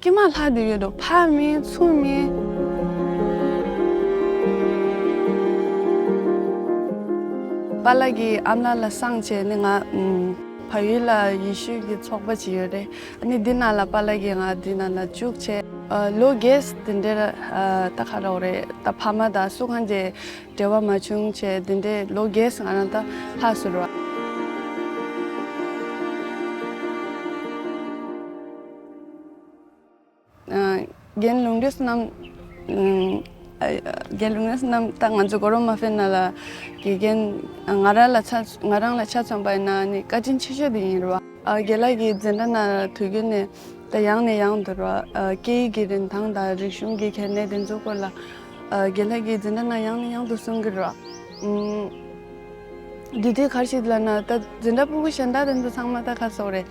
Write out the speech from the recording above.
ཀྱེ་མ་ལྷ་དེ་ཡོད་དོ་ཕག་མིན་མཚུངས་མིན། པཱ་ལགས་ཀྱི་ཨ་མ་ལ་སངས་བྱས་ནི་ང། ཕ་ཡུལ་ལ་ཡེ་ཤུ་ཀྱི་ཚོགས་པ་ཅིག་ཡོད་རེད་ཨཱ་ནི་འདི་ན་ལ་པཱ་ལགས་ཀྱིས་ང་འདི་ན་ལ་བཅུག་བྱས། ལོ་རྒས་འདི་འདྲས་ད་ཁ་རོག་རེད་ད་ཕ་མ་ད་སུ་གང་དེ་འབྲེལ་བ་མ་བྱུང་བྱས་འདི་འདྲས་ལོ་རྒས་ང་རང་ད་ལྷགས་སུ་རོ། རྒན་ལུང་རིགས་རྣམས་ད་ང་ཚོ་གོ་རོ་མ་ཕེ་ན་ལ་དགེ་རྒན་ང་རང་ལ་ང་རང་ལ་ཆ་ཚང་པ་ཡིན་ན་ནི་བཀའ་དྲིན་ཆེ་ཤོས་དེ་ཡིན་རེད་བ། རྒན་ལགས་ཀྱིས་འཛིན་གྲྭ་ན་དུས་རྒྱུན་ནས་ད་ཡང་ནས་ཡང་དུ་རོ་སྐད་ཡིག་གི་རིན་ཐང་དང་རིག་གཞུང་གི་གལ་གནད་དེ་ཚོ་སྐོར་ལ་རྒན་ལགས་ཀྱིས་འཛིན་གྲྭ་ན་ཡང་ནས་ཡང་དུ་གསུང་གི་རོ། དུས་དུས་གར་ཞིག་ལ་ན་ད་འཛིན་གྲྭ་སྤུ་གུ་གཞན་དག་དེ་ཚོ་ཚང་མ་ད་ཁ་སོག་རེད།